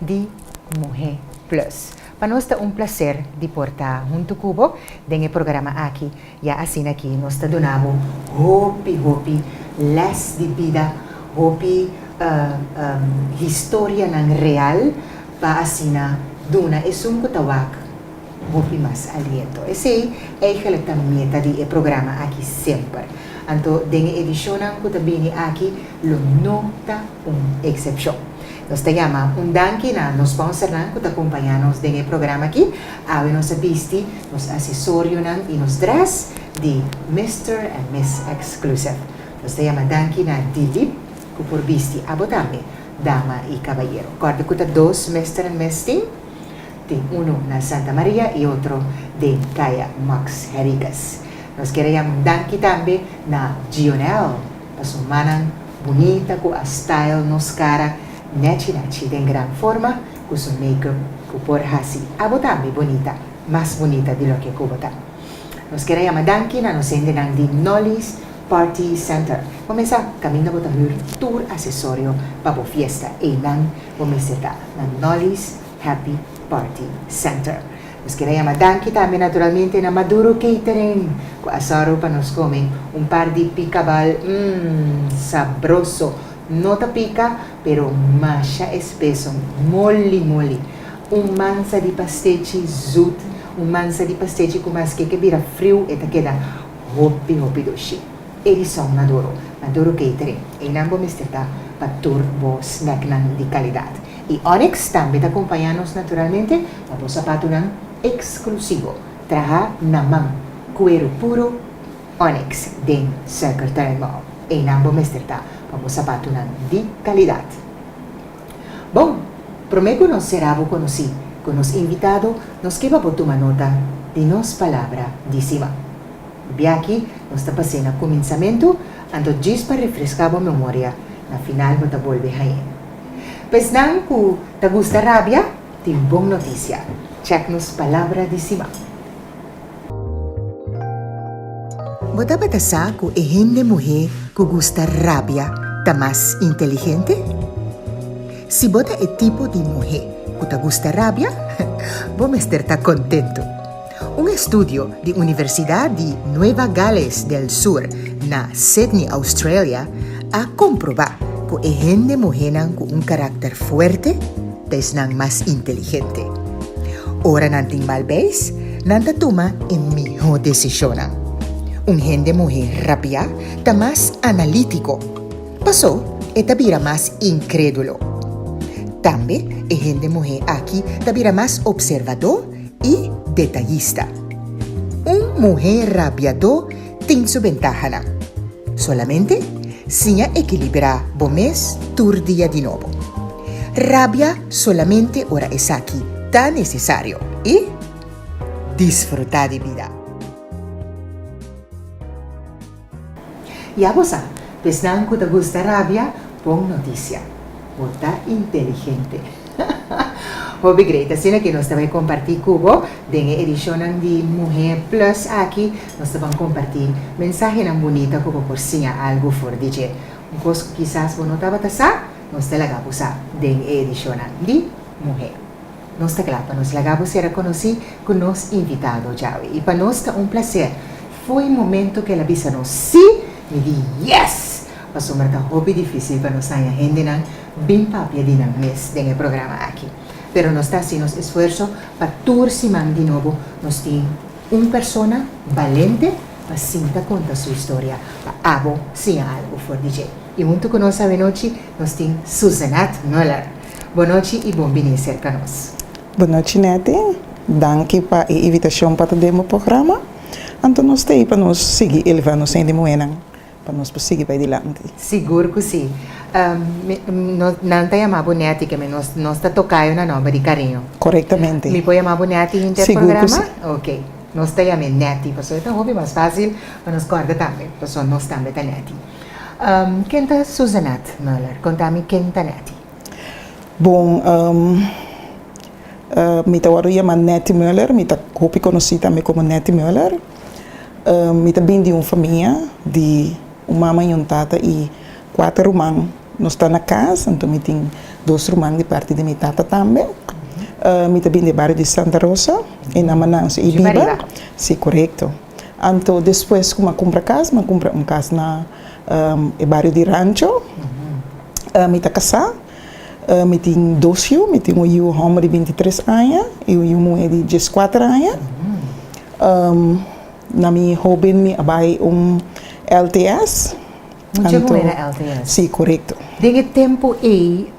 di Muhé Plus. Pa nos ta un plaser di por ta huntu ku bo den e programa aki, ya asina ki nos ta duna bo hopi hopi lès di bida, hopi historianan real pa asina duna esun ku ta wak. Hopi mas aliento. Esei eigelijk ta meta di e programa aki semper. Anto den e edicionnan cu ta bini aki lo no ta un excepcion. Nos ta yama un danki na nos sponsornan cu ta cumpaña nos den e programa aki, awe nos a bisti nos accesorionan y nos dress di Mister and Miss Exclusive. Nos ta yama danki na Dilip cu por bisti abo tambe, dama y cabayero. Corda cu ta dos Mister and Miss tin? Tin unu na Santa Maria y otro den Caya Max Hericas. Nos kier a jam un danki tambe na Gionel pa su manan bunita cu a style nos cara nachi nachi den gran forma cu su makeup cu por haci abo tambe bunita, mas bunita di loke cu bo ta. Nos kier a jama danki na nos hendenan di Nolly's Party Center. Bo mes sa caminda bo ta hür tur accesorio pa bo fiesta, eynan bo mester ta na Nolly's. Happy Party Center. Nos kier a yama danki tambe naturalmente na Maduro Catering cu a saro pa nos come un par di picabal umm sabroso, no ta pica pero masha espeso, moli moli. Un mansa di pastechi zoet, un mansa di pastechi cu mas keke bira friu e ta keda hopi hopi doshi. Edison Maduro, Maduro Catering, einan bo mester ta pa tur bo snacknan di calidad. Y Onyx tambe ta acompaña nos naturalmente pa bo zapatonan exclusivo, traha na man, cuero puro Onyx den Circle Turn Mall. Eynan bo mester ta pa bo zapatonan di calidad. Bon, prome cu nos cera bo conoci cu nos invitado nos ke pa bo tuma nota di nos palabra di siman. Biachi nos ta pase na cuminsamento, anto djis pa refresca bo memoria, na final bo ta bolbe hañ'e. Pesnan ku ta gusta rabia tin bon notisia. Chèk nos Palabra di Siman. Bo tabata sa ku e hende muhé ku gusta rabia ta mas inteligente? Si bo ta e tipo di muhé ku ta gusta rabia, bo mester ta kontentu. Un estudio di Universidad di Nueva Gales del Sur na Sydney, Australia, a comproba cu e hende muhenan cu un caracter fuerte ta esnan mas inteligente. Ora nan tin mal beis, nan ta tuma e miho decisionnan. Un hende muhe rabia ta mas analitico, paso e ta bira mas incredulo. Tambe e hende muhe aki ta bira mas observador i detayista. Un muhé rabiadó tin su bentahanan. Solamente siña ekilibrá bo mes tur dia di nobo. Rabia solamente ora esaki ta nesesario i disfrutá di bida. Ya bo sa, pa esnan ku ta gusta rabia, bon notisia, bo ta inteligente. Hopi great, asina ke nos ta bai kompartí ku bo den e edishonnan di Muhé Plus aki, nos ta ban kompartí mensahenan bunita ku bo por siña algu for di dje. Un kos ku kisas bo no tabata sa, nos ta laga bo sa den e edishonnan di Muhé. Nos ta kla pa nos laga bo ser a konosí ku nos invitado djawe i pa nos ta un plaser Foi momento k'el a bisa nos sí, mi di yes! Pasobra ta hopi difícil pa nos haña hendenan bin papia di nan mes den e programa aki. Pero nos ta hasi nos esfuerso pa tur siman di nobo nos tin un persona balente pa sinta konta su historia pa abo siña algu for di dje. I huntu ku nos awenochi nos tin Suzenat Muller. Bon nochi i bon biní serka nos. Bon nochi Netty, danki pa e invitashon pa ta den bo programa. Anto nos ta ei pa nos sigui elevá nos hende muhénan pa nos por sigui bai dilanti? Sigur ku sí! Nan ta yamá bo nèti, ke mi nos ta toká yo na nòmber di kariño. Korektamente. Mi por yamá bo nèti hinter programa? Sigur ku sí! Oke. Nos ta yam'é nèti pasobra e ta hopi mas fásil pa nos kòrda tambe pasobra nos tambe ta nèti. Ken ta Susanette Muller? Konta mi ken ta nèti. Bon. Mi ta wòrdu yama Netty Muller, mi ta hopi konosí tambe komo Netty Muller. Mi ta bini di un famia di un mama i un tata i kuater ruman. Nos ta na kas, anto mi tin dos ruman di parti di mi tata tambe. Mi ta bini di e bario di Santa Rosa, e nama nan so i biba. Si, korekto. Anto despues ku mi a kumpra kas, mi a kumpra un kas na e bario di Rancho. Mi ta kasá. Mi tin dos yu, mi tin un yu homber di binti tres aña i un yu muhé di dies kuater aña. Na mi hóben mi a bai un LTS. Un chègumé na LTS? Sí, korekto. Den e tempu ei,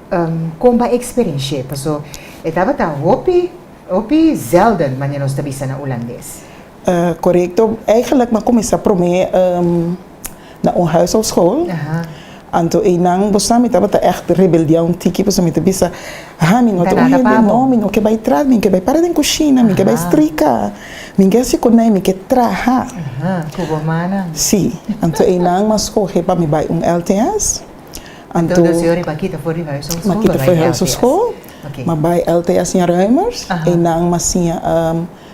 kon bai e eksperenshé? Paso e tabata hopi, hopi zelden, manera nos ta bisa na ulandes. Korekto, eigenlik mi a kuminsá promé na un huishoudskool. Anto einan, bo sa, mi tabata ègt rebeldeá un tiki pasobra mi ta bisa, ha, mi no ta un hende, no, mi no ke bai tras, mi ke bai para den kushina, mi ke bai strika, mi ke hasi konai, mi ke traha. Sí, anto einan mi a skohe pa mi bai un LTS. Anto mi a kita for di huishoudskool, mi a bai LTS ña Ruimers, einan mi a siña.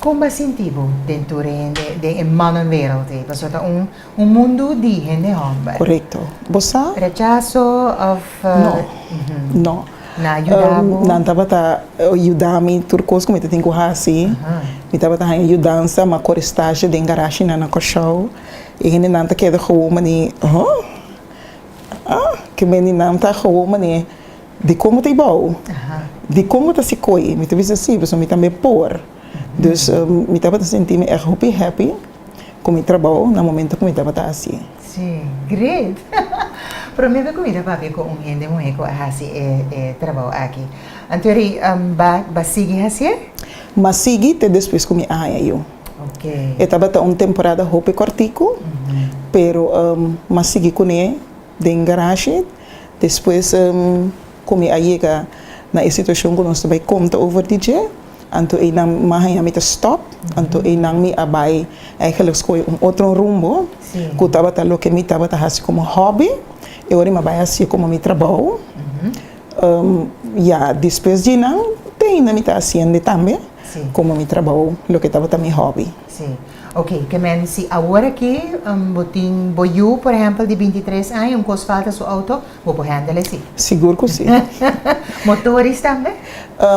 Kon b'e sinti bo den tur e hende den e manan wereld ei? Paso ta un un mundu di hende hòmber. Korekto. Bo sa? Rechaso òf No. Nan a yuda bo? Nan tabata yuda mi tur kos ku mi ta tin ku hasi. Mi tabata haña yudansa, ma kore stashe den garashinan na Kòrsou. E hendenan ta keda gewoon manera, Hò? Ke bendinan ta gewoon manera. Dikon bo ta ibao? Dikon bo ta sikoe? Mi ta bisa si, pasobra mi tambe por. Dus, mi tabata sinti mi èk hopi happy ku mi trabou na momentu ku mi tabata hasi. Sí, great! Promé ku mi ta papia ku un hende muhé ku a hasi e trabou aki. Anto ri ba ba sigui hasié? M'a sigui te despues ku mi a haña yu. E tabata un temporada hopi kòrtiku, pero m'a sigui kuné. den garashi, despues komi a yega na e situashon ku nos ta bai konta over di dje, anto einan mi haña mi ta stòp, anto einan mi a bai eigenlijk skohe un otro rumbo ku tabata loke mi tabata hasi komo hòbi i ora mi a bai hasié komo mi trabou, ya despues di einan te einan mi ta hasiende tambe komo mi trabou loke tabata mi hòbi. Ok, ke men, si awor aki bo tin bo yu, por ehempel, di binti tres aña, un kos falta su outo, bo por hendel esei? Sigur ku si. Motoris tambe?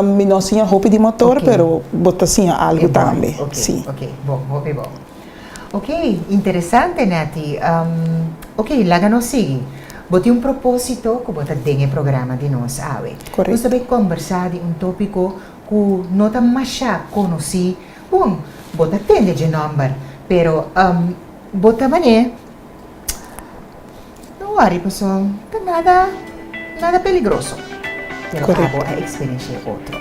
Mi no siña hopi di motor, pero bo ta siña algu tambe, si. Ok, ok, bo, hopi bo. Ok, interesante, Netty. Ok, laga nos sigui. Bo tin un propósito ku bo ta den e programa di nos awe. Korekto. Nos ta bai kombersá di un tópiko ku no ta masha konosí. Bon, bo ta tende dje nòmber, pero um bo ta man'é. No wòri pasobra ta nada nada peligroso. Pero abo a eksperensh'é otro.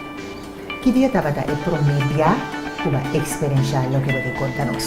Ki dia tabata e promé bia ku bo a eksperensh'á loke bo tin konta nos?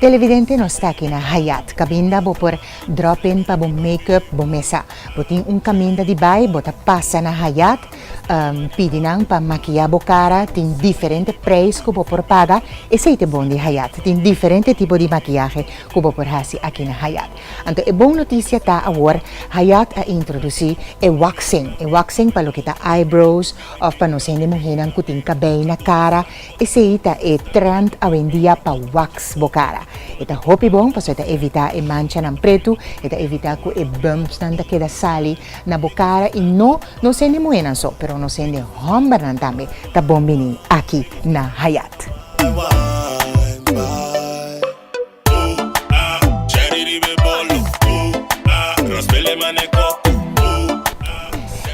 Televidente nos ta aki na Hyatt kabinda bo por drop in pa bo make up bo mesa bo tin un kaminda di bai bo ta pasa na Hyatt pidi nan pa makia bo kara tin diferente preis ku bo por paga esei te bon di Hyatt tin diferente tipo di makiahe ku bo por hasi aki na Hyatt anto e bon notisia ta awor Hyatt a introdusi e waxing e waxing pa loke ta eyebrows òf pa nos hende muhé nan ku tin kabei na kara Esei ta e trend awendia pa wax bo cara. E ta hopi bon pasobra e ta evita e manchanan pretu, e ta evita cu e bumpsnan ta keda sali na bo cara y no nosende muhenan so, pero nosende hombernan tambe ta bon bini aki na Hayat.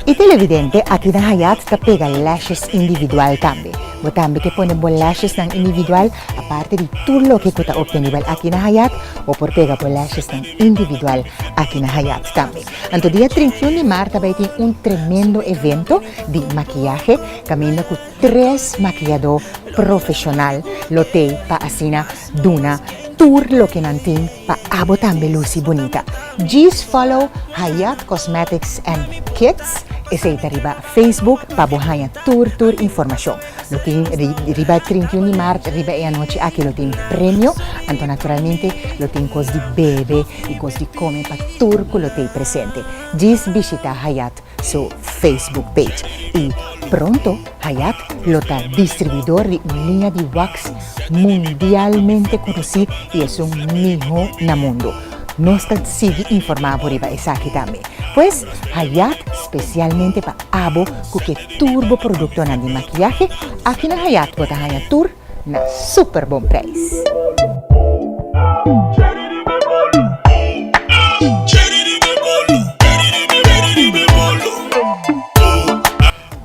E televidente aki na Hyatt ta pega lashes individual tambe. Bo tambe ke pone bo lashesnan individual? Aparte di tur loke ku ta optenibel aki na Hyatt, bo por pega bo lashesnan individual aki na Hyatt tambe. Anto dia trinta i un di marta bai tin un tremendo evento di makiyahe kaminda ku tres makiyadó profeshonal lo tei pa asina Duna tur loke nan tin pa abo tambe luci bunita. Djis follow Hayat Cosmetics and Kits Eseyta riba Facebook pa bo haña tur tur informacion. Lo tin riba e trinta i un di maart riba e anochi aki lo tin premio anto naturalmente lo tin cos di bebe y cos di come pa tur cu lo tey presente. Djis bishita Hayat su Facebook page y pronto Hayat lo ta distribuidor di un liña di wax mundialmente conoci y esun miho na mundo. Nos ta sigui informa bo riba esaki tambe. Pues Hayat specialmente pa abo cu ke tur bo productonan di maquillahe, aki na Hayat bo ta haña tur. na super bon prijs.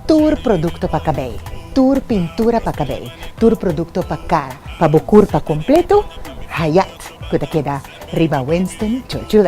Tur produkto pa kabei, tur pintura pa kabei, tur produkto pa kara, pa bo kurpa kompleto, Hayat ku ta keda riba Winston Churchill.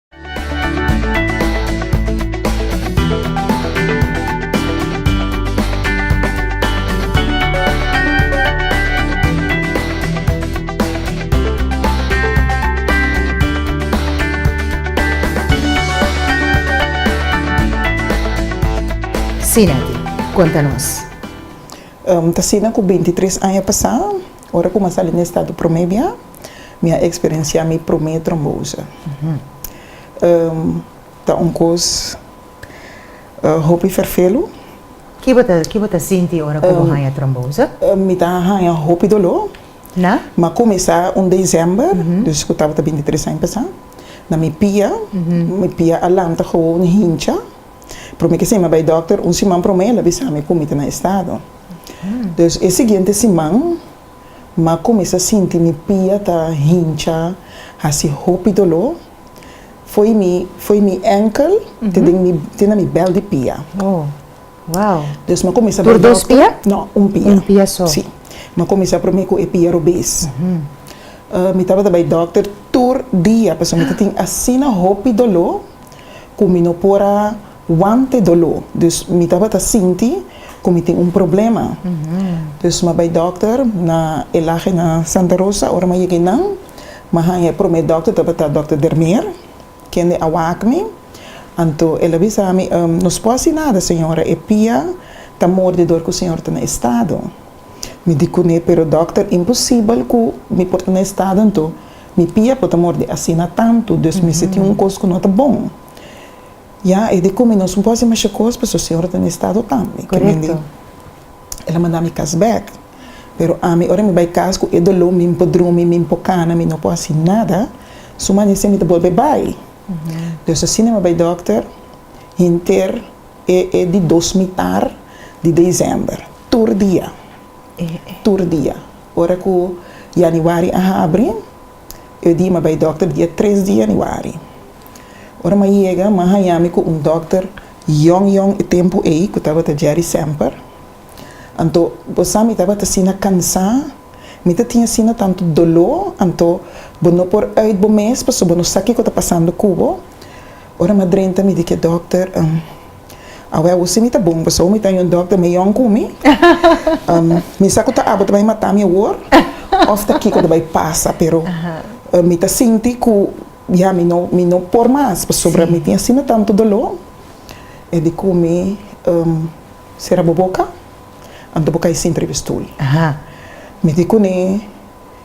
Sinati, konta nos. Ta asina ku binti tres aña pasá, ora ku mi a sali na estado promé biaha. Mi a experiencia mi prome trombosa. Ta un cos hopi ferfelu. Ki bo ta ki bo ta sinti ora cu bo haya trombosa? Mi ta haya hopi dolor. Na? Ma comesa un december, dus cu tabata bintitres aña pasa, na mi pia, mi pia a lanta gewoon hincha. Prome kisa mi a bay doctor, un siman prome el a bisa mi cu mi ta na estado. Dus e siguiente siman. m'a cuminsa sinti mi pia ta hincha haci hopi dolor foi mi foi mi enkel te den mi te na mi bel di pia dus m'a cuminsa bay dokter no un pia si m'a cuminsa prome cu e pia robes mi tabata bay dokter tur dia pasobra mi ta tin asina hopi dolor cu mi no por a. Wante doló, dus mi tabata sinti ku mi tin un problema. Dus ma bai dòkter na e lahe na Santa Rosa. Ora ma yega einan, ma haña e promé dòkter tabata dòkter Dermeer, kende a wak mi. Anto el a bisa mi, No su por hasi nada, señora, e pia ta morde dor ku señor ta na e stado. Mi di kuné, Pero dòkter, imposibel ku mi por ta na e stado anto mi pia por ta morde asina tantu. Dus mester tin un kos ku no ta bon. Ya, e di kumi nos no por hasi masha kos pasobra Señor ta na e estado tambe. Ke men di, El a manda mi kas bek, pero ami ora mi bai kas ku e doló, mi no por drumi, mi no por kana, mi no por hasi nada, su manese mi ta bolbe bai. Pues asina mi a bai dòkter henter e e di dos mitar di dezember, tur dia, tur dia. Ora ku yanuari a habri, e di mi a bai dòkter dia tres di yanuari. Ora m'a yega, m'a haña mi ku un dòkter yòn yòn e tempu ei ku tabata Jerry Semper. Anto bo sa mi tabata asina kansá, mi ta tin asina tantu doló, anto bo no por ùit bo mes pasobra bo no sa kiko ta pasando ku bo. Ora m'a drenta mi di ki e dòkter, Awe awor si mi ta bon, pasobra mi ta haña un dòkter meyòn ku mi. Mi sa ku ta abo ta bai matá mi awor òf ta kiko ta bai pasa, pero mi ta sinti ku. Ya mi no mi no por mas pasobra mi tin asina tantu doló. E di ku mi, Sera bo boka, anto bo kai sinter riba e stul. Mi di kuné,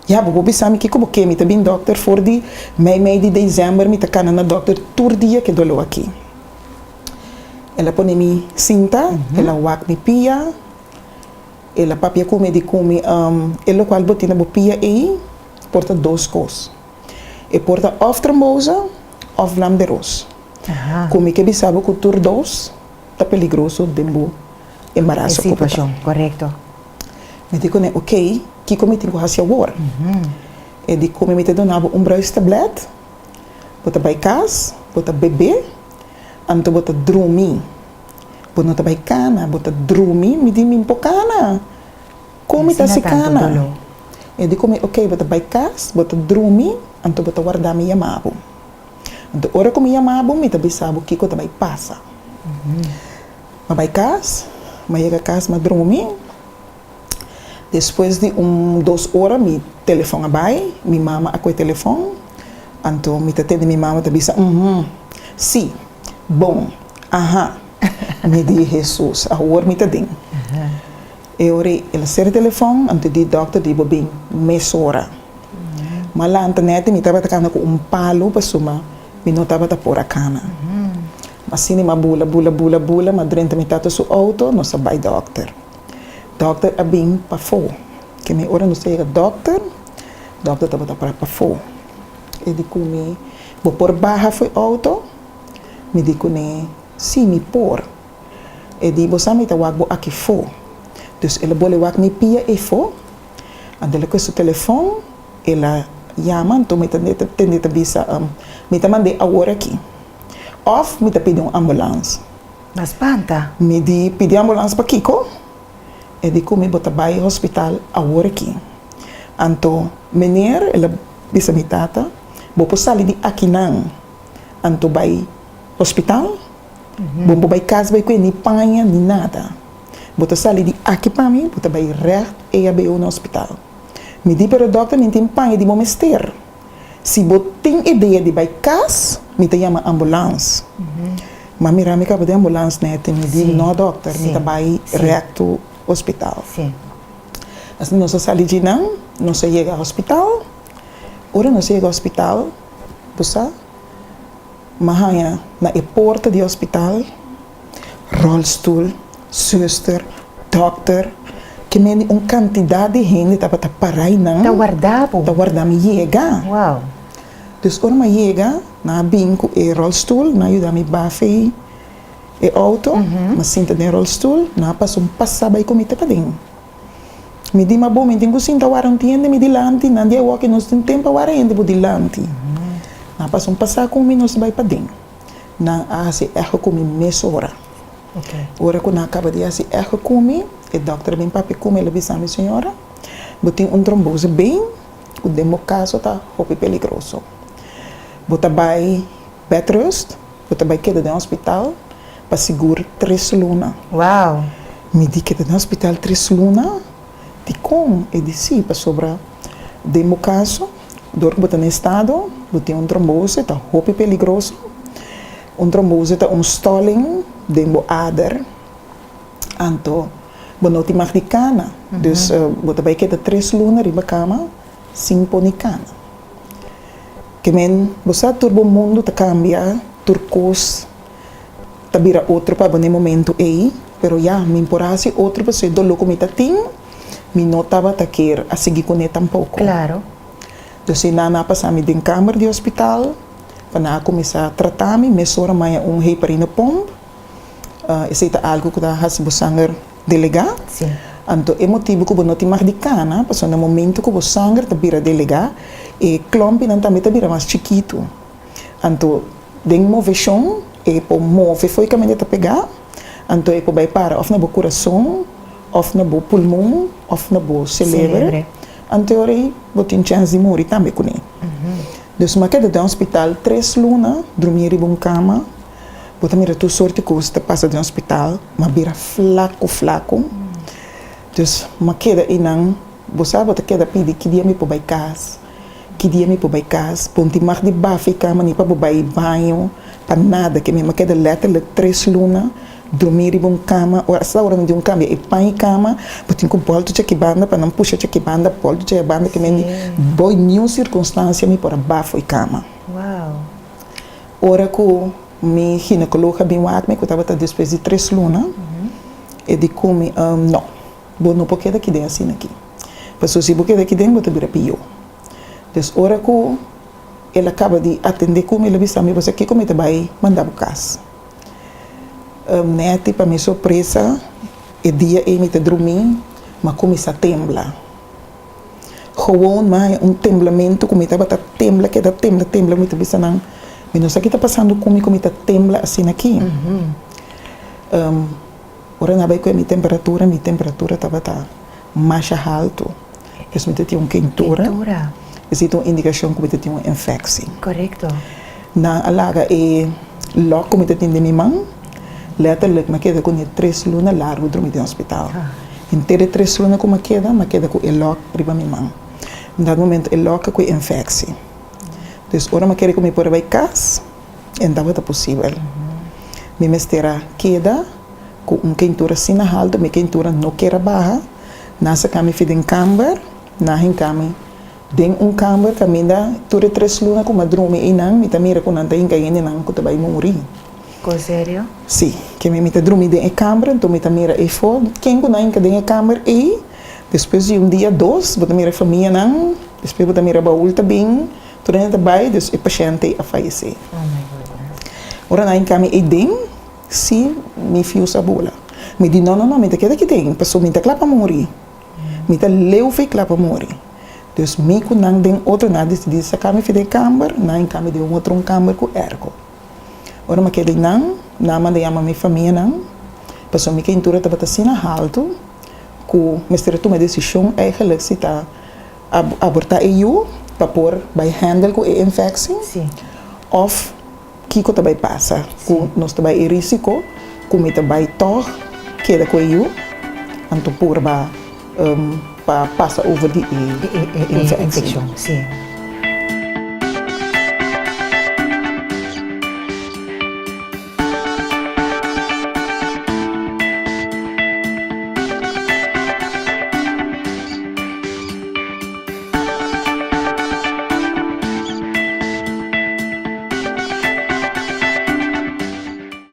Ya, bo por bisa mi kiko bo ke. Mi ta bin dòkter for di mei mei di desèmber, mi ta kana na dòkter tur dia ku e doló aki. El a pone mi sinta, el a wak mi pia, el a papia ku mi, e di ku mi, E lokual bo tin na bo pia ei por ta dos kos. E por ta òf trombosa òf blanberos. Ku mi ke bisa bo ku tur dos ta peligroso den bo embaraso ku bo ta. Mi di kuné, ok, kiko mi tin ku hasi awor? E di kume, mi ta dona bo un bruis tablèt, bo ta bai kas, bo ta bebe, anto bo ta drumi. Bo no ta bai kana, bo ta drumi, mi di mi no por kana. Con mi ta si cana? E di cu mi, Ok, bo ta bay cas, bo ta drumi, anto bo ta warda mi yama bo. Anto ora cu mi yama bo, mi ta bisa bo kico ta bay pasa. Ma bay cas, ma yega cas, ma drumi. Despues di un dos ora mi telefon a bay, mi mama a cu e telefon, anto mi ta tende mi mama ta bisa, Uhum, si, bon, aha. Mi di, Jesus, awor mi ta den. E ora el a ser e telefon, anto di dokter di bo bin mesora. Ma lantanèt mi tabata kana ku un palu pasuma mi no tabata por a kana. Ma sinti mi a bula, bula, bula, bula, ma drenta mi tata su outo nos a bai dokter. Dokter a bin pafó. Ke mi ora nos ta yega dokter, dokter tabata para pafó. E di ku mi, Bo por baha fu e outo? Mi di kuné, Sí, mi por. E di, Bo sa mi ta wak bo aki fo. Dus el a bole wak mi pia ei fo. Anto el a kue su telefon, el a yama, anto mi ta tende ta bisa, Mi ta mand'é awor aki. Òf mi ta pidi un ambulans. Nan spanta. Mi di, Pidi ambulans pa kiko? E di, Kumi bo ta bai hospital awor aki? Anto, Meneer, el a bisa mi tata, bo por sali di aki nan, anto bai. Hospital? Bo por bai cas bai cu e ni paña ni nada. Bo ta sali di aki pa mi, bo ta bai recht EHBO na hospital. Mi di pero dokter mi tin paña di bo mester. Si bo tin idea di bai cas, mi ta yama ambulance. Ma mira mi caba den ambulance nete, mi di no dokter, mi ta bai recht hospital. Asina nos a sali dji nan, nos a yega hospital. Ora nos a yega hospital, bo sa. M'a haña na e porta di hospital, rolstoel, suster, dokter, ke mende un kantidat di hende tabata pará i nan Ta warda bo? ta warda mi yega. Wow! Dus ora m'a yega, nan a bin ku e rolstoel, nan a yuda mi bafe e outo, m'a sinta den rolstoel, nan a pasa un pasa bai ku mi te paden. Mi di, Ma bo, mi tin cu sinta wara, no tin hende mi dilanti. Nan di awoke, Nos tin tempa wara hende bo dilanti. Nan pasa un pasa cu mi, nos bai paden. Nan a haci echo cu mi mesora. Ora cu nan a caba di haci echo cu mi, e dokter a bin papia cu mi, el a bisa mi, Señora, bo tin un trombosis ben cu den bo caso ta hopi peligroso. Bo ta bai. Bedrust, Cu ta bay keda den hospital pa sigur tres luna. Wow! Mi di keda den hospital tres luna? Di con e di si, pasobra den bo caso, dor cu bo ta na e estado, bo tin un trombose, ta hopi peligroso. Un trombose ta un stalling den bo ader, anto bo no tin mag di cana. Dus bo ta bay keda tres luna riba cama. sin poni cana. Ke men, bo sa tur bo mundu ta cambia, tur cos ta bira otro pa bo n'e momento ey, pero ya, mi por haci otro paso e dolor cu mi ta tin, mi no tabata kier a sigui cu n'e tampoco. Claro. Dor si nan a pasa mi den camer di hospital, pa nan a cuminsa trata mi, mesora maya un heparine pump, Ah, esei ta algu ku ta hasi bo sanger delegá. Anto e motibu ku bo no tin mag di kana, pasobra momentu ku bo sanger ta bira delegá, e klompinan tambe ta bira mas chikitu. Anto den moveshon e por move fo'i kamente e ta pegá, anto e por bai para òf na bo kurason, òf na bo pulmon, òf na bo seleber. Anto e ora ei bo tin chèns di muri tambe kuné. Dus, makeda den ospital tres luna, drumí riba un kama. Bo ta mira tur sorti cos ta pasa den hospital, ma bira flaco flaco. Dus ma keda ayinan, bo sa bo ta keda pidi ki dia mi por bay cas, ki dia mi por bay cas. Ponti mag di bafe ka mani pa bo bay baño, pa nada. Ke mi ma keda letterlijk tres luna drumi riba un cama, ora asta ora nan di un cambia e pan e cama, bo tin cu bolto cheki banda pa nan pusha cheki banda, bolto cheki banda ke mi di, boy niun circunstancia mi por a bafo e cama. Ora ku mi ginekoloog a bin wak mi, ku tabata despues di tres luna, e di ku mi, No, bo no por keda aki den asina aki, pasobra si bo keda aki den bo ta bira pió. Des ora ku el a kaba di atendé ku mi, el a bisa mi, Bo sa kiko mi ta bai manda bo kas? Nèti pa mi sorpresa, e dia ei mi ta drumí, ma ku mi sa tembla. Gewoon mae un temblamentu ku mi tabata tembla keda tembla tembla mi ta bisa nan mi no sa ki ta pasando ku mi ku mi ta tembla asina aki ora nan a bai ku'e mi temperatura mi temperatura tabata masha haltu pues mi ta tin un kentura esei ta un indikashon ku mi ta tin un infeksi. Nan a laga e lòk ku mi ta tin den mi man. Lèterlik, mi a keda ku e tres luna largu drumi den hospital. Henter e tres luna ku mi a keda, mi a keda ku e lòk riba mi man. Un dado momento e lòk a kui enfeksi. Entonces, ora mi a kere ku mi por a bai kas, e no tabata posibel. Mi mester a keda ku un kentura asina haltu, mi kentura no kier a baha. Nan a sakami fi den kamber, nan a hinka mi. Den un kamber kaminda tur e tres luna ku mi a drumi einan, mi ta mira ku nan ta hinka hende nan ku ta bai muri. Ku serio? Sí. Keme mi ta drumi den e kamber, anto mi ta mira eifo ken ku nan hinka den e kamber ei. Despues di un dia, dos, bo ta mira e famianan, despues bo ta mira baul ta bin, tur hende ta bai, dus e pashènt ei a fayesé. Ora nan a hinka mi eiden, sí, mi fiu sa bola. Mi di, No, no, no, mi ta keda aki den, pasobra mi ta kla pa muri. Mi ta leu fe kla pa muri. Dus mi ku nan den otro na desidí saká mi fi den e kamber na en kambio di un otro un kamber ku èrko. Ora mi a keda einan, nan a manda yama mi famianan pasobra mi keintura tabata asina haltu ku mester a tuma e desishon èigelik si ta abortá e yu pa por bai hèndel ku e infèkshi òf. Kiko ta bai pasa ku nos ta bai e risiko ku mi ta bai tòg keda ku e yu? Anto purba pa pasa over di e infekshon.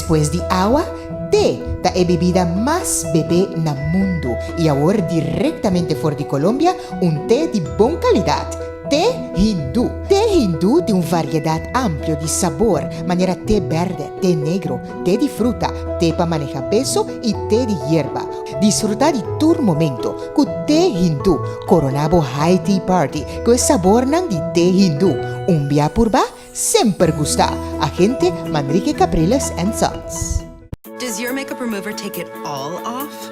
Pues di awa, te ta e bebida mas bebé na mundu y awor directamente for di Colombia un te di bon calidad, Te Hindu. Te Hindu tin un variedad amplio di sabor, manera te berde, te negro, Te di fruta, te pa maneha beso i te di yerba. Disfruta di tur momento ku te hindu. Koroná bo High Tea Party ku e sabornan di te hindu. Un bia purba, semper gusta! Agente, Manrique Capriles and Sons. Does your makeup remover take it all off?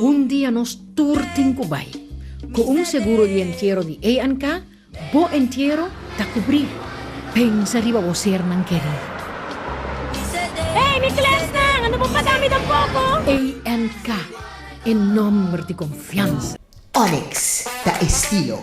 Un dia nos tur tin ku bai. Ku un seguro di entiero di ANK, bo entiero ta kubrí. Pensa riba bo sernan kerí. Hey mi klèsnan, a no por pasa mi tampoko! ANK, e nòmber di konfiansa. Onyx ta estilo.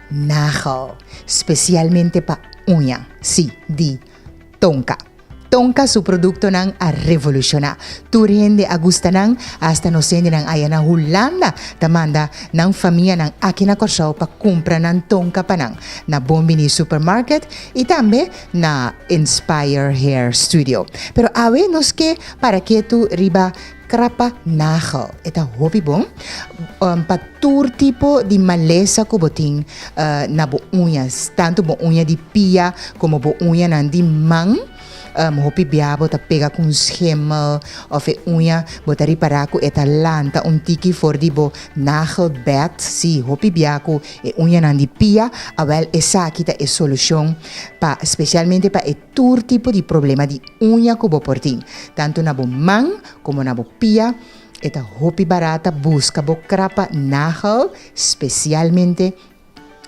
Nagel, specialmente pa uña, si, di Tonka. Tonka su productonan a revoluciona. Tur hende a gusta nan, hasta nos hendenan aya na Hulanda ta manda nan famianan aki na Corsou pa cumpra nan Tonka pa nan na Bon Bini Supermarket y tambe na Inspire Hair Studio. Pero awe nos ke para ketu riba Krapa nagel e ta hopi bon pa tur tipo di malesa ku bo tin na bo uñas, tantu bo uña di pia komo bo uñanan di man. Hopi bia bo ta pega ku un schemel òf e uña bo ta ripará ku e ta lanta un tiki for di bo nagelbed. Sí, hopi bia ku e uñanan di pia. Awèl esaki ta e solushon pa spesialmente pa e. Tur tipo di problema di uña ku bo por tin, tantu na bo man komo na bo pia, e ta hopi barata buska bo krapa nagel spesialmente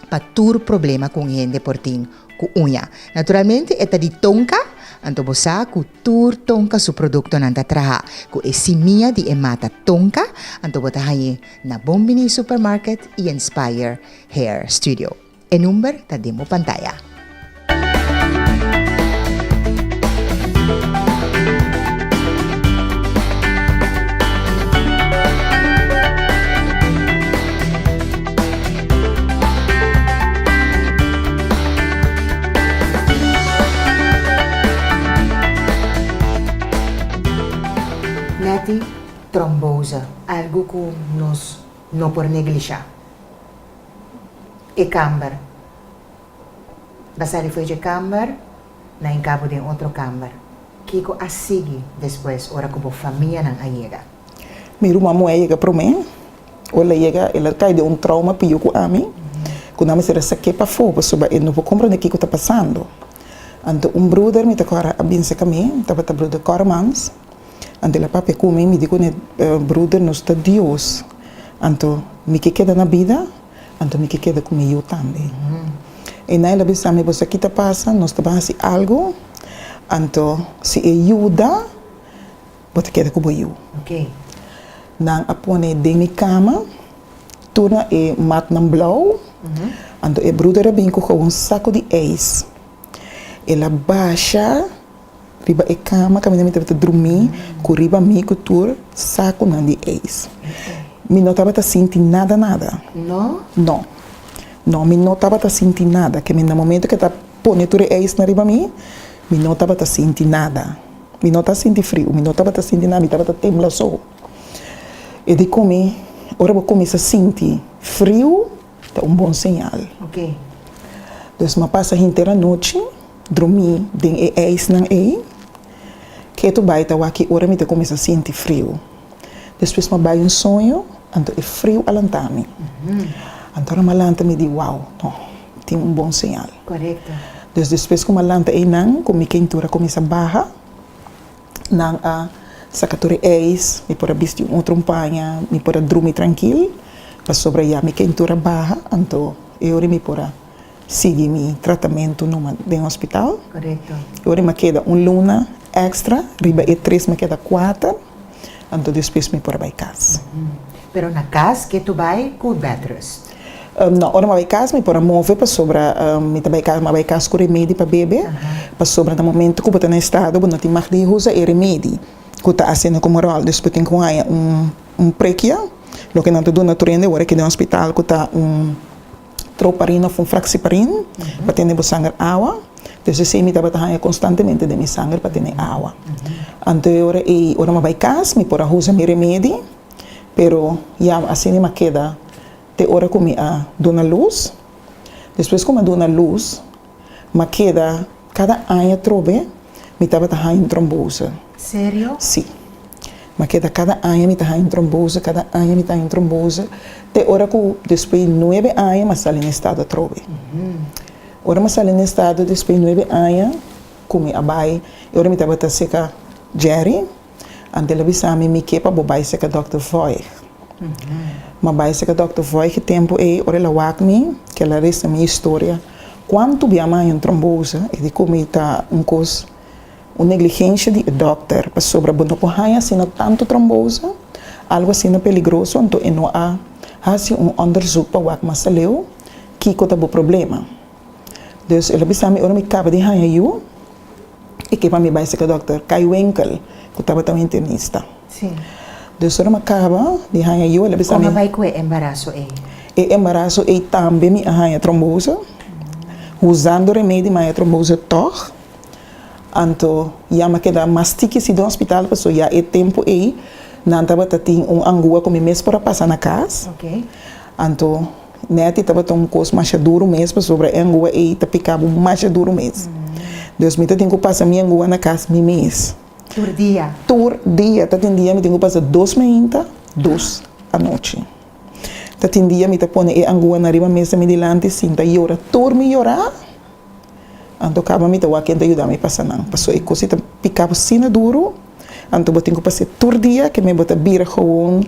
pa tur problema ku un hende por tin ku uña. Naturalmente e ta di tonka, anto bo sa ku tur tonka su produktonan ta traha ku e simia di e mata tonka, anto bo ta hañ'é na Bonbini Supermarket i en Spire Hair Studio. E number ta den bo pantaya. Netty Tromboza, Algo cu nos no por neglisha. e kamber. Ba sali fo'i dje kamber, nan e kabo den otro kamber. Kiko a sigui despues ora ku bo famianan a yega? Mi ruma muhé a yega promé. Ora el a yega, el a kai den un trouma pio ku ami, ku nan a mester a sak'é pafó pasobra e no por komprendé kiko ta pasando. Anto un bruder mi ta kòrda a binse ka mi, tabata bruder Kormans. Anto el a papia cu mi, mi di cu ne bruder, Nos ta Dios, anto mi ke keda na bida, anto mi ke keda cu mi yu tambe. I na el a bisa mi, Bo sa ki ta pasa? Nos ta ban haci algo, anto si e yuda, bo ta keda cu bo yu. Nan a pone den mi cama turnan e matnan blauw, anto e bruder a bin cu gewoon saco di ijs. El a basha riba e kama kaminda mi tabata drumí ku riba mi ku tur sakunan di eis. Mi no tabata sinti nada nada. No? No. No, mi no tabata sinti nada. Kaminda momentu ku e ta pone tur e eis na riba mi, mi no tabata sinti nada. Mi no ta sinti friu, mi no tabata sinti nada, mi tabata tembla so. E di ku mi, Ora bo kuminsa sinti friu, Ta un bon señal. Pues m'a pasa henter anochi drumí den e ijsnan ei. Ketu bai ta wak-i ora mi ta kuminsá sinti friu. Despues m'a bai un soño, anto e friu a lantá mi. Anto ora m'a lanta mi di, Wou, nò, tin un bon señal. Pues despues ku m'a lanta einan ku mi kentura kuminsá baha. Nan a saka tur e eis, mi por a bisti un otro umpaña, mi por a drumi trankil, pasobra ya mi kentura baha, anto e ora mi por a sigui mi tratamentu numa den hospital. E ora mi a keda un luna èkstra, riba e tres mi a keda kuater, anto despues mi por a bai kas. Pero na kas ke tu bai ku bed rest? No, ora mi a bai kas mi por a move pasobra mi ta bai kas, mi a bai kas ku remedi pa bebe, pasobra na momento ku bo ta na e estado bo no tin mah di usa e remedi ku ta asina komo ròl, dus bo tin ku haña un prekia, loke nan ta duna tur hende ora ke den hospital ku ta un troparin òf un fraksiparin pa tene bo sanger awa, dus esei mi tabata haña konstantemente den mi sanger pa tene awa, anto e ora ei, ora mi a bai kas mi por a usa mi remedi. Pero ya así ni m'a keda te ora ku mi a duna lus. Despues ku m'a duna lus, m'a keda kada aña trobe mi tabata haña un trombose. Serio? Sí. M'a keda kada aña mi ta haña un trombose, kada aña mi ta haña un trombose, te ora ku despues di nuebe aña m'a sali n'e estado atrobe. Ora m'a sali n'e estado despues di nuebe aña ku mi a bai, e ora mi tabata seka Jerry. Antel a bisa mi, Mi ke pa bo bai seka Dòkter Voig. Ma bai seka Dòkter Voig e tempu ei, ora el a wak mi, ke el a resa mi historia. Kuantu biaha maña un tromboze e di ku mi ta un kos, un negligensha di e dòkter, pasobra bo no por haña asina tantu tromboze, algu asina peligroso, anto e no a hasi un ònderzuk pa wak mas aleu kiko ta bo problema. Dus el a bisa mi ora mi kaba di haña yu. E ke pa mi bai seka dòkter Kai Winkel, ku tabata un internista. Dus ora mi a kaba di haña yu, el a bisa mi. Kon a bai ku e embaraso ei? E embaraso ei tambe mi a haña trombose, usando remedi mi a haña trombose tòg. Anto ya mi a keda mas tiki si den hospital, pasobra ya e tempu ei nan tabata tin un angua ku mi mes por a pasa na kas. Anto. Netty tabata un kos masha duru mes pasobra e ngua ei ta pika bo masha duru mes. Dus mi ta tin ku pasa mi e ngua na kas mi mes. Tur dia? Tur dia. Ta tin dia mi tin ku pasa dos mainta, dos anochi. Ta tin dia mi ta pone e ngua na riba mesa mi dilanti sinta yora. Tur mi yora. Anto kaba mi ta wak ken ta yuda mi pasa nan. Paso e kosa ei ta pika bo asina duru, anto bo tin ku pase tur dia ke me bo ta bira gowon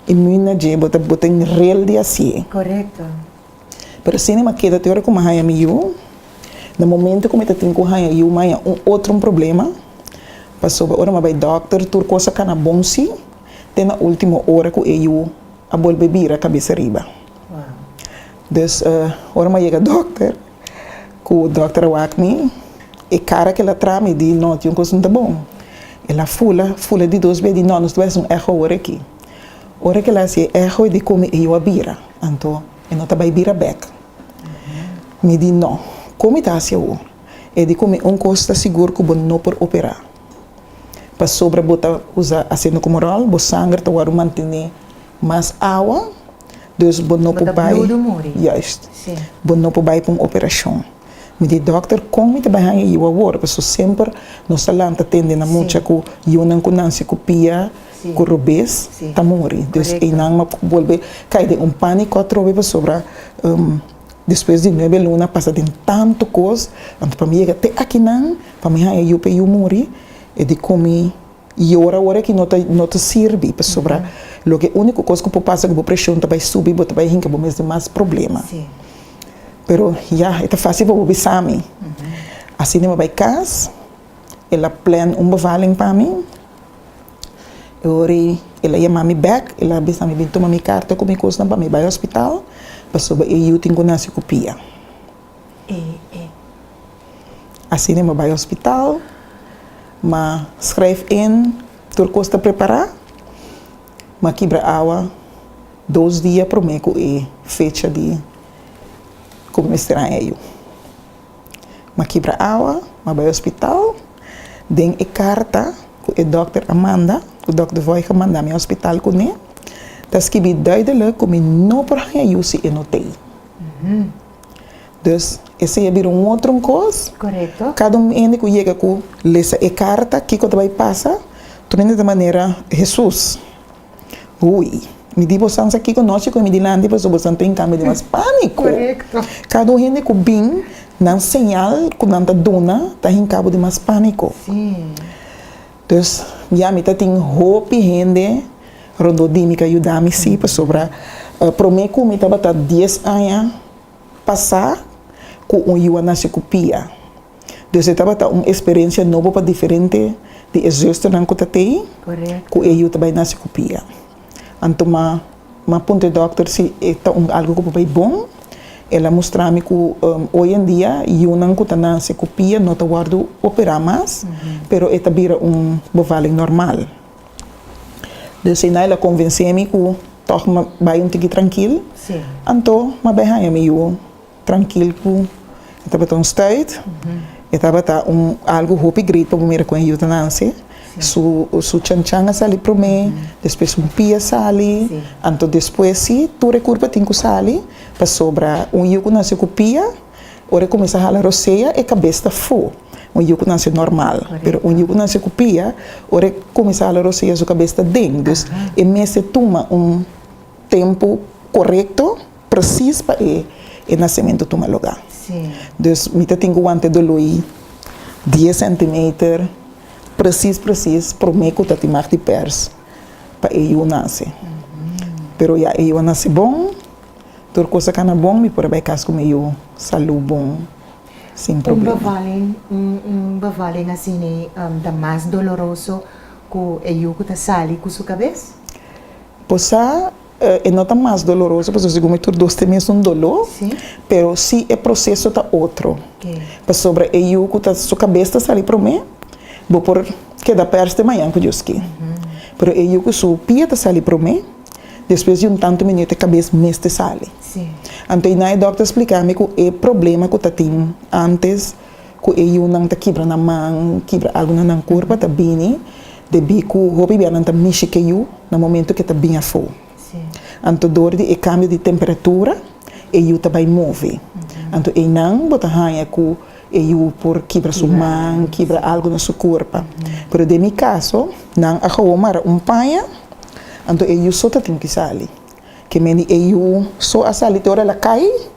i mün na dje bo ta bo ta inrel di hasié. Korekto. Pero asina mi a keda te ora ku mi a haña mi yu. Na momento ku mi ta tin ku haña yu mi a haña un otro un problema, pasobra ora mi a bai dòkter tur kosa kana bon si te na ultimo ora ku e yu a bolbe bira kabesa riba. Wow. Dus ora mi a yega dòkter. Ku Dòkter Wakni, e kara kila trami di no tin un kos nta bon. El a fula, fula di dos bes di no, nos ta bes un eho ora aki. Ora ke el a hasi e eho e di komo e yu a bira, anto e no ta bai bira bek. Mi di no, kon mi ta hasi awo? E di komo un kos ta sigur ku bo no por operá. Pasobra bo ta usa aseno komo ròl, bo sanger ta wòrdu mantené. Mas awa, dus bo no por bai. Juist. Bo no por bai pa un operacion. Mi di dokter con mi ta bai hanja yiu awor, pasobra semper nos ta lanta tende na mucha cu yiunan cu nanci cu pia cu robes ta muri. Dus eynan no por bolbe cay den un panico atrobe pasobra despues di nuebe luna a pasa den tanto cos. Anto pa mi yega te akinan, pa mi hanja yiu pe yiu muri e di cu mi. I yora ora ki no ta sirbi, pasobra loke úniko kos ku por pasa ku bo preshon ta bai subi, bo ta bai hinka bo mes den mas problema. Pero ya, e ta fásil pa bo bisa mi. Asina mi a bai kas, el a plan un bevalling pa mi. E ora ei el a yama mi bèk, el a bisa mi bin tuma mi karta ku mi kosnan pa mi bai hospital, pasobra e yu tin ku nase ku pia. e e. Asina e bai hospital, ma schrijf in, tur cos ta prepara, ma kibra awa dos dia prome cu e fecha di cu mi mester haña yu. Ma kibra awa, ma bai hospital, den e carta cu e dokter a manda, cu dokter Voig a manda mi hospital cune, ta skibi duidelijk cu mi no por haña yu si e no tey. Dus, esei a bira un otro kos. Korekto. Kada un hende ku yega ku lesa e karta, kiko ta bai pasa? Tur hende ta manera Hesus, Hui, mi di bosan sa kiko nochi ku e mi dilanti pasobra bosan ta inkambio di mas pániko. Korekto. Kada un hende ku bin, nan señal ku nan ta duna ta hinkabo di mas pániko. Sí. Dus, ya mi ta tin hopi hende rondó di mi ca yuda mi sí, pasobra promé cu mi tabata dies aña pasá cu un yuwa naci cu pia. Dus e tabata un experiencia nobo pa diferente di e zusternan cu ta t'ei, cu e yu ta bay naci cu pia. Anto ma ma puntra e dokter si e ta un algu ku por bai bon. El a mustra mi ku oy en dia yunan ku ta nase ku pia no ta wòrdu operá mas, pero e ta bira un bevaliñ normal. Dus eina el a konvensé mi ku tòg ma bai un tiki trankil. Anto ma bai haña mi yu Trankil ku e tabata un stuit, e tabata un algu hopi great pa bo mira kon e yuda Nancy, su su chanchan a sali promé, despues un pia a sali, anto despues si tur e kurpa tin ku sali, pasobra un yu ku nació ku pia ora e kuminsá hala rosea e kabes ta fu, un yu ku nació normal, pero un yu ku nació ku pia ora e kuminsá hala rosea su kabes ta den, dus e mester tuma un tempu korekto. Precies pa e e nacimento tuma loga. Dus mi ta tin cu guante doloi dies centimeter precies precies prome cu ta timar di pers pa e yu nace. Pero ya e yu a nace bon, tur cosa ca na bon mi por a bay cas cu mi yu salud bon sin problema. Un bevali nacine ta mas doloroso cu e yu cu ta sali cu su cabes? Por sa E no ta mas doloroso pasobra segun mi tur dos tin mesun doló, pero si e proseso ta otro, pasobra e yu ku ta su kabes ta sali promé bo por keda pers te mañan ku Dios ke, pero e yu ku su pia ta sali promé despues di un tantu minüt e kabes mester sali. Anto i na e dòkter spliká mi ku e problema ku ta tin antes. Ku e yunan ta kibra nan man, kibra algu na nan kurpa ta bini debí ku hopi bia nan ta mishi ke yu na momentu ke ta bin afó. Anto dor di e kambio di temperatura e yu ta bai move. Anto einan bo ta haña ku e yu por kibra su man, kibra algu na su kurpa. Pero den mi kaso, nan a kawo mara un paña, anto e yu so ta tin ku sali. Ke men di e yu so a sali te ora el a kai.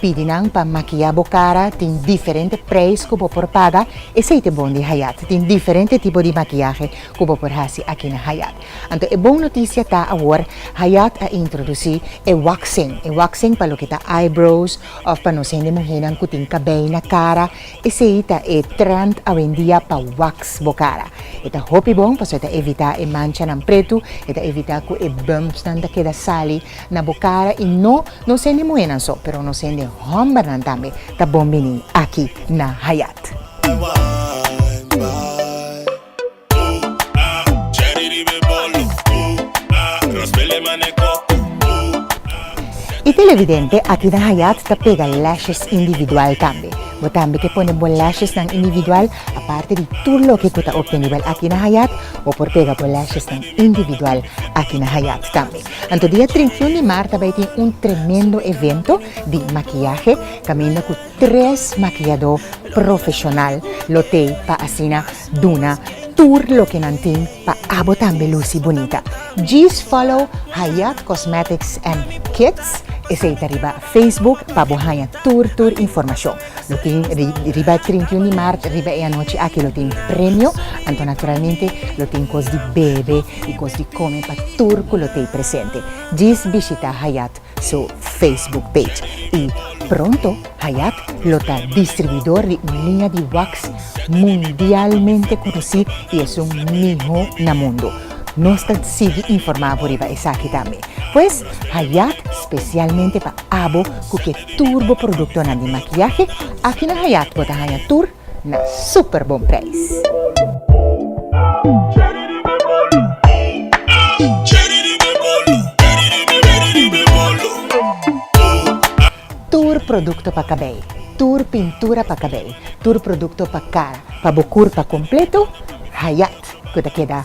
Pidi nan pa makiá bo kara, tin diferente preis ku bo por paga. E seite bon di Hayat tin diferente tipo di makiahe ku bo por hasi aki na Hayat. Anto e bon notisia ta awor Hayat a introdusí e waxing. E waxing pa loke ta eyebrows òf pa nos hende muhénan ku tin kabei na kara. Esei ta e trènt awendia pa wax bo kara. E ta hopi bon pasobra e ta evitá e manchanan pretu, e ta evitá ku e bumpsnan ta keda sali. Na bo cara y no nos hende muhenan so pero nos hende hombernan tambe ta bon bini aki na Hayat. Y televidente aki na Hayat ta pega lashes individual tambe. Bo tambe ke pone bo lashes nan individual aparte di tur loke cu ta obtenibel aki na Hayat bo por pega bo lashes nan individual aki na Hayat tambe. Anto dia trinta i un di marta bai tin un tremendo evento di makiahe kaminda ku tres makiadó profeshonal lo tei pa asina duna tur loke nan tin pa abo tambe lusi bunita. Djis follow Hayat Cosmetics and Kits, esei ta riba Facebook pa bo haña tur tur informashon. Lo tin riba e trinta i un di maart riba e anochi aki lo tin premio anto naturalmente lo tin kos di bebe i kos di kome pa tur ku lo tei presente. Djis bishita Hayat su Facebook page i pronto Hayat lo ta distribuidor di un liña di wax mundialmente konosí i esun mihó na mundu. Nos ta sigui informá bo riba esaki tambe. Pues Hayat spesialmente pa abo ku ke Tur bo produktonan di makiahe aki na Hayat bo ta haña tur na super bon preis. Tur produkto pa kabei, tur pintura pa kabei, tur produkto pa kara, pa bo kurpa kompleto, Hayat ku ta keda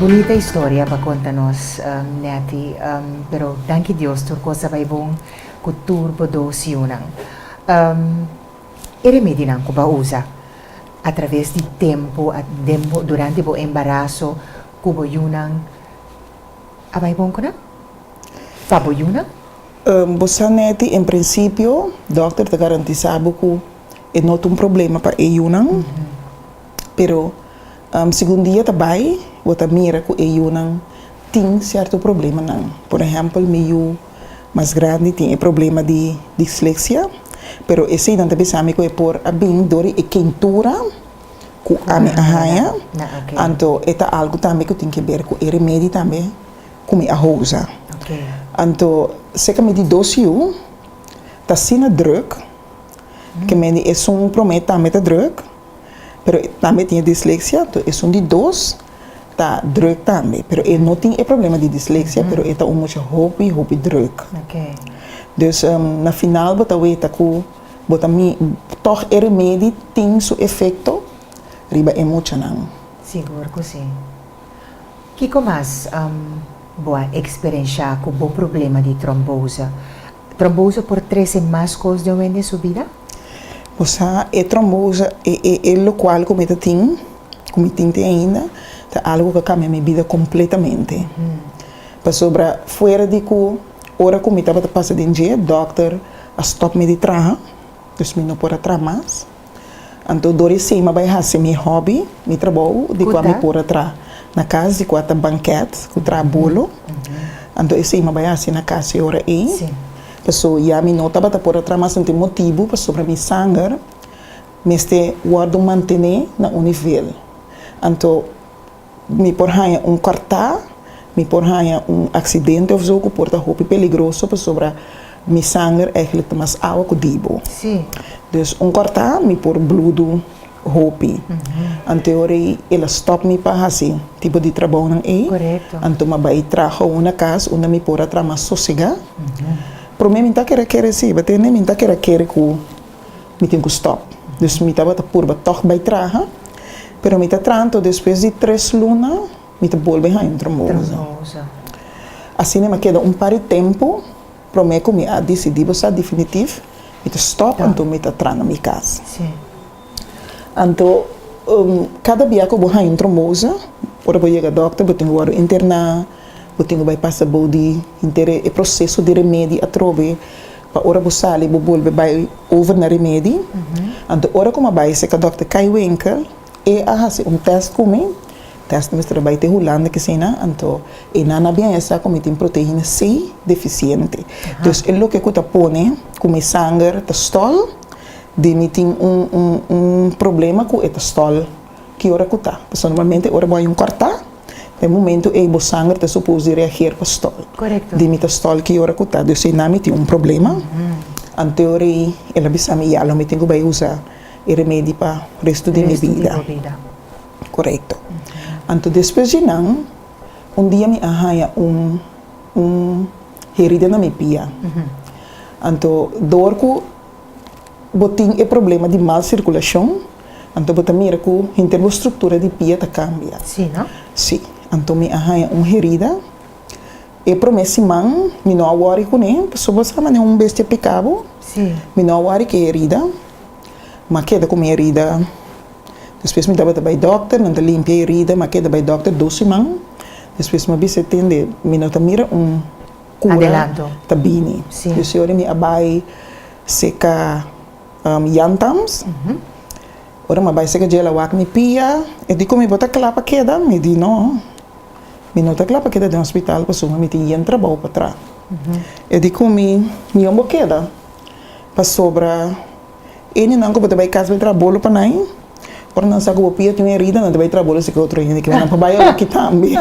Bunita historia pa conta nos Netty pero danki Dios tur cos a bay bon cu tur bo dos yiunan. E remedinan cu bo a usa a traves di tempo den bo durante bo embaraso cu bo yiunan a bay bon cu nan? Pa bo yiunan? Bo sa Netty en principio doctor ta garantisa bo cu e no ta un problema pa e yiunan. Pero, segun dia ta bai, bo ta mira ku e yunan tin sierto problemanan. Por ehèmpel, mi yu mas grandi tin e problema di disleksia, pero esei nan ta bisa mi ku e por a bin dor di e kentura ku ami a haña, anto e ta algu tambe ku tin ke ber ku e remedi tambe ku mi a houza. Anto, serka mi di dos yu ta asina drùk, ke men di esun promé tambe ta drùk. pero e tambe tin e disleksia tu esun di dos ta druk tambe pero e no tin e problema di disleksia pero e ta un mucha hopi hopi druk dus na final bo ta weta ku bo ta mi tog e remedi tin su efekto riba e muchanan. Sigur ku si. Kiko mas bo a eksperenshá ku bo problema di tromboze? Trombosa por trese mas cos den wende su bida? Bo sa, e trombosa, e, e, e locual cu mi ta tin, cu mi tin te ainda, ta algo cu a cambia mi bida completamente. Pasobra fuera di cu ora cu mi tabata pasa den dje, doctor a stop mi di traha, dus mi no por a traha mas. Anto Doris Sima bai hasi mi hobby, mi trabou di kua mi por a traha na kas di kua ta banket ku traha bolo. Anto e Sima bai hasi na kas e ora ei. Paso ya mi no tabata por a traha mas un tin motibu pasobra mi sanger mester wòrdu mantené na un nivel. Anto. Mi por haña un kòrtá, mi por haña un aksidente òf so ku por ta hopi peligroso pasobra mi sanger èglik ta mas awa ku dibu. Dus un kòrtá mi por bludu hopi. Ante ora ei el a stòp mi pa hasi tipo di trabounan ei. Anto mi a bai traha una kas unda mi por a traha mas sosegá. Promé mi ta kere kere si, batende mi ta kere kere ku. Mi tin ku stòp. Dus mi tabata purba tòg bai traha, pero mi ta tranto despues di tres luna mi ta bolbe haña un trombosa. Asina mi a keda un par di tempu promé ku mi a disidí bo sa definitif mi ta stòp anto mi ta traha na mi kas. Anto kada bia ku bo haña un trombosa ora bo yega dòkter bo tin ku wòrdu interná, bo tin ku bai pasa bou di inter e proseso di remedi atrobe. Pa ora bo sali bo bolbe bai over na remedi. Anto ora ku mi a bai seka dòkter Kai Wenke, e a hasi un tèst ku mi, tèst ku mi mester a bai te Hulanda kisina, anto e nan a bien e sa ku mi tin proteina C defisiente. Dus e loke ku ta pone ku mi sanger ta stòl di mi tin un un un problema ku e ta stòl. Ki ora ku ta? Pasobra normalmente ora bo hay un kòrtá, pa e momentu ei bo sanger ta supos di reager pa stòl. Di mi ta stòl ki ora ku ta, dus ei na mi tin un problema. Anteor ei el a bisa mi ya lo mi tin ku bai usa e remedi pa restu di mi bida. Korekto. Anto despues di nan un dia mi a haña un un herida na mi pia. Anto dor ku. Bo tin e problema di mal sirkulashon, anto bo ta mira ku henter bo struktura di pia ta kambia. Sí no? Sí. Anto mi a haña un herida. E promé siman mi no a wòri kuné, pasobra bo sa manera un bestia piká bo. Sí. Mi no a wòri ku e herida. Mi a keda ku mi herida. Despues mi tabata bai dòkter, nan ta limpia e herida. Mi a keda bai dòkter dos siman. Despues mi a bisa tende, mi no ta mira un. Cura ta bini. Yo siñor de mi a bay seca yantams. Ora mi a bay seca djel a wak mi pia. E di como mi bo ta cla pa keda? Mi di no. Mi no ta cla pa keda den hospital pasobra mi tin yen trabao pa tra. E di cu mi, Mi wen bo keda pasobra. Eni nan ku bo ta bai kas bai traha bolo pa nan, ora nan sa ku bo pia tin un herida nan ta bai traha bolo si ke otro hende ke nan por bai oki tambe.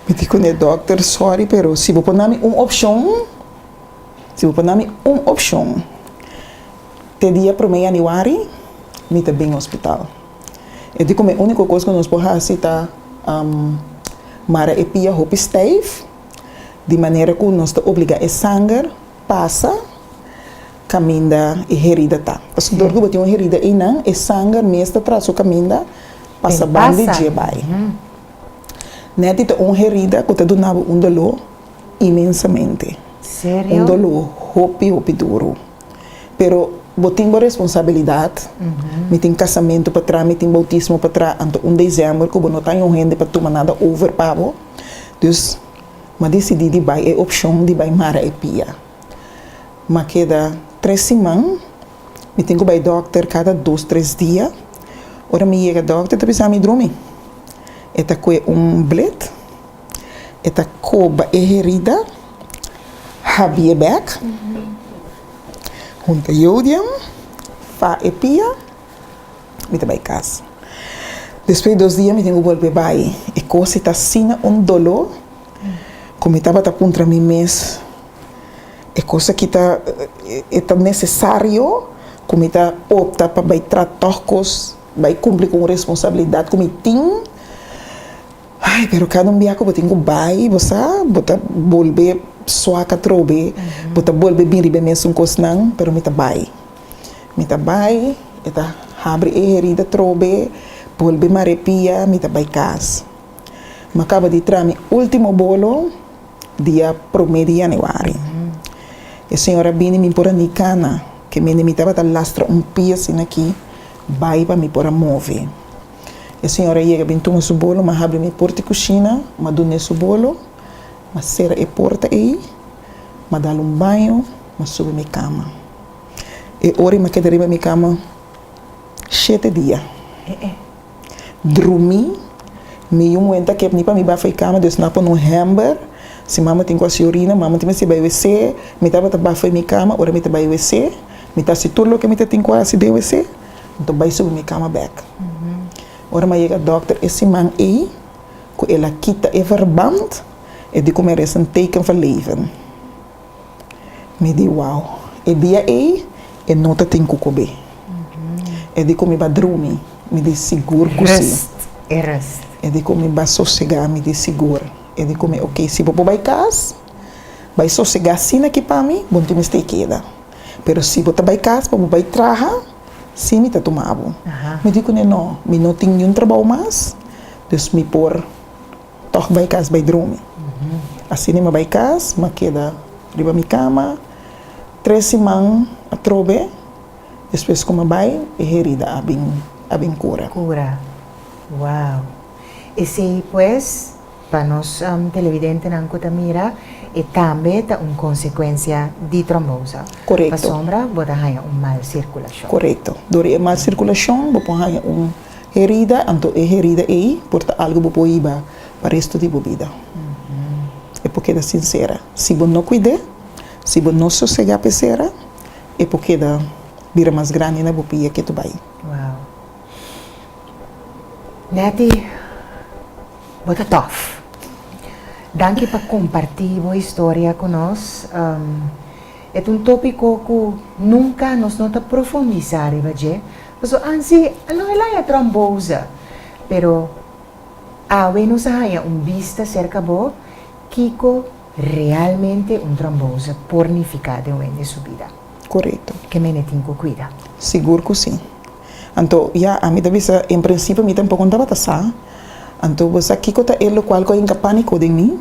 Mi di kuné dòkter, sòri pero si bo por na mi un opshon, si bo por na mi un opshon te dia promé yanüari mi ta bin hospital. E di kome úniko kos ku nos por hasi ta mara e pia hopi stèf di manera ku nos ta obligá e sanger Pasa, kaminda e herida ta. Pasobra dor ku bo tin un herida einan, e sanger mes ta traso kaminda pasa ban di dje bai. Netty ta un herida ku ta duna bo un doló imensamente. Un doló hopi hopi duru. Pero bo tin bo responsabilidat, mi tin kasamentu patrás, mi tin boutismo patrás, anto un desember ku bo no ta hende pa tuma nada over pa bo. Dus. ma disidí di bai e opshon di bai mara e pia. Ma keda tres siman, mi tin ku bai dòkter kada dos tres dia. Ora mi yega dòkter ta bisa mi drumi. E ta kue un blet, e ta koba e herida, habí e bèk, hunta yodia, fa e pia. Mi ta bai cas. Despues dos dia mi tin cu bolbe bai. E cose ta asina un dolo cu mi tabata puntra mi mes, E cos aki ta e ta necesario cu mi ta opta pa bai tra toc cos, bai cumpli cu un responsabilidad cu mi tin? Ay, pero cada un biaha cu bo tin cu bai, bo sa, bo ta bolbe suak atrobe, bo ta bolbe bin riba e mesun cosnan, pero mi ta bai. Mi ta bai, e ta habri e herida trobe, bolbe mar'é pia, mi ta bai kas. Mi a kaba di tra mi último bolo dia promé di yanüari. E señor a bini mi por a ni kana, ke mende mi tabata lastra un pia asina aki, bai pa mi por a move. E señor a yega bin tuma su bolo, mi a habri mi por di kushina, mi a dun'é su bolo, mi a sera e porta ei, M'a dal un baño, m'a subi mi cama. E ora i m'a keda riba mi cama shete dia. Drumi, mi yu muenta kep ni pa mi bafa e cama, dus n'a pon un hamber. Si mama tin cu haci orina, mama tin mester bai wc. Mi tabata bafa e mi cama, ora mi ta bai wc, mi ta haci tur loke mi ta tin cu haci den wc, anto bai subi mi cama bek. Ora m'a yega doctor e siman ei, cu el a kita e verband. E di ku mi a resa un teken van leven. Mi di, Wou, e dia ei e no ta tin ku kob'é. E di ku mi ba drumi, mi di, Sigur ku si. E di ku mi ba sosegá, mi di, Sigur. E di ku mi, Ok, si bo por bai kas, bai sosegá asina ki pa mi bo no tin mester keda. Pero si bo ta bai kas pa bo bai traha, si mi ta tuma bo. Mi di ku ne, No, mi no tin niun trabou mas, dus mi por. Tòg bai kas bai drumi. Asina mi bai kas, mi a keda riba mi kama tres siman atrobe. Despues ku mi bai, e herida a bin a bin kura. Kura. Wow! Esei pues, pa nos televidentenan ku ta mira, e tambe ta un konsekuensia di trombosa. Korekto. Pasobra bo ta haña un mal sirkulashon. Korekto. Dor di e mal sirkulashon bo por haña un. Herida, anto e herida ei por ta algu bo por hiba pa restu di bo bida. E por keda sinsera. Si bo no kuid'é, si bo no sosegá p'e sera, e por keda bira mas grandi na bo pia ke ta bai. Wow. Netty, bo ta tòf. Danki pa kompartí bo historia ku nos. E ta un tópiko ku nunka nos no ta profundisá riba dje. Paso ansi a lo Elijah trombosa, pero awe nos a haña un bista serka bo kiko realmente un trombosa por nifiká den un hende su bida. Korekto. Ke men e tin ku kuida? Sigur ku si. Anto ya a mi ta bisa en prinsipio mi tampoco no tabata sa. Anto bo sa kiko ta e lokual ku a hinka pániko den mi?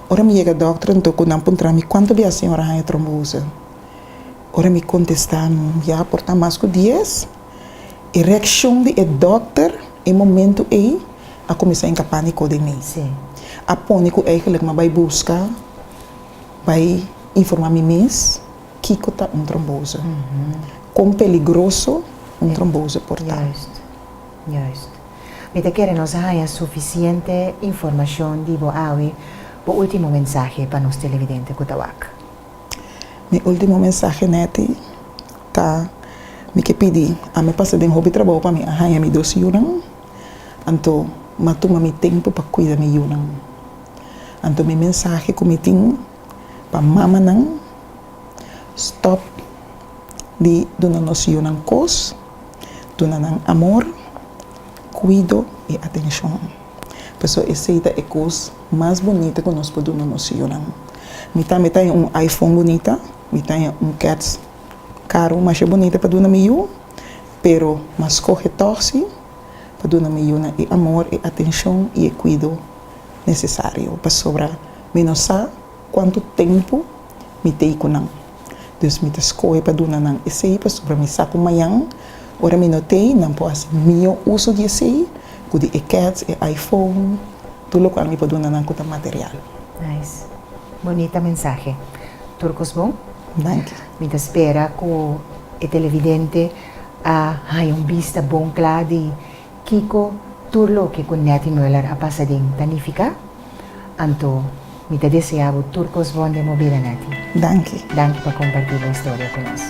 Ora mi yega dòkter anto ku nan puntra mi kuantu di a señor a haña trombosa. Ora mi kontestá ya por ta mas ku dies, e reakshon di e dòkter e momentu ei a kuminsá hinka pániko den mi. A pone ku eigelik mi a bai buska, bai informá mi mes kiko ta un tromboze, kon peligroso un tromboze por ta. Mi ta kere nos haña sufisiente informashon di bo awe, bo último mensahe pa nos televidente ku ta wak. Mi ultimo mensahe neti ta mi ke pidi ami pasa den hopi trabou pa mi a haña mi dos yunan anto m'a tuma mi tempu pa kuida mi yunan anto mi mensahe ku mi tin pa mamanan stòp di duna nos yunan kos duna nan amor kuido i atenshon paso esei ta e kos Mas bunita cu nos por duna nos hijonan. Mi tambe ta un iPhone bunita, mi ta un kets caru masha bunita pa duna mi hiju, pero ma scoge tohsi pa duna mi hijunan e amor, e atencion y e cuido necesario pasobra mi no sa cuantu tempo. Mi t'ei ku nan. Dus mi ta skohe pa duna nan esei, pasobra mi sa ku mañan, ora mi no t'ei, nan por hasi mihó uso di esei ku di e kèts, e iPhone, tur lokual mi por duna nan ku ta material. Nice. Bonita mensahe. Tur kos bon. Danki. Mi ta spera ku e televidente a haña un bista bon kla di kiko tur loke ku Netty Muller a pasa den ta nifiká. Anto, mi ta desea bo tur kos bon den bo bida, Netty. Danki. Danki pa kompartí bo historia ku nos.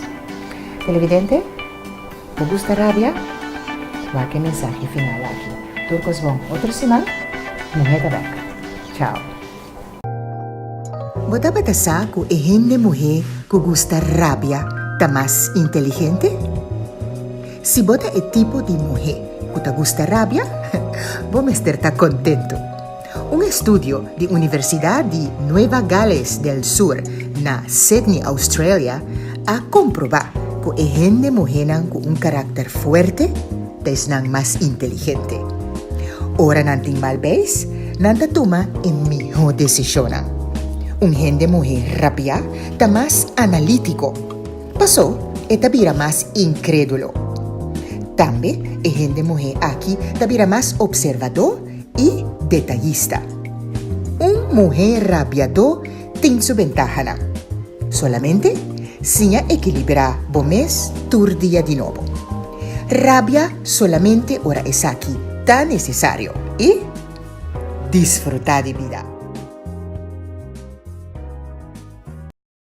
Televidente, bo gusta rabia? Wak e mensahe final aki. Tur kos bon. Otro siman Muhé ta bèk. Chao. Bo tabata sa ku e hende muhé ku gusta rabia ta mas inteligente? Si bo ta e tipo di muhé ku ta gusta rabia, bo mester ta kontentu. Un estudio di Universidat di Nueva Gales del Sur na Sydney, Australia, a komprobá ku e hende muhénan ku un karakter fuerte ta esnan mas inteligente. Ora nan tin mal beis, nan ta tuma e mihó desishonnan. Un hende muhé rabiá ta mas analítiko. Pasó e ta bira mas inkrédulo. Tambe e hende muhé aki ta bira mas opservadó i detayista. Un muhé rabiadó tin su bentahanan. Solamente siña ekilibrá bo mes tur dia di nobo. Rabia solamente ora esaki ta nesesario i disfrutá di bida.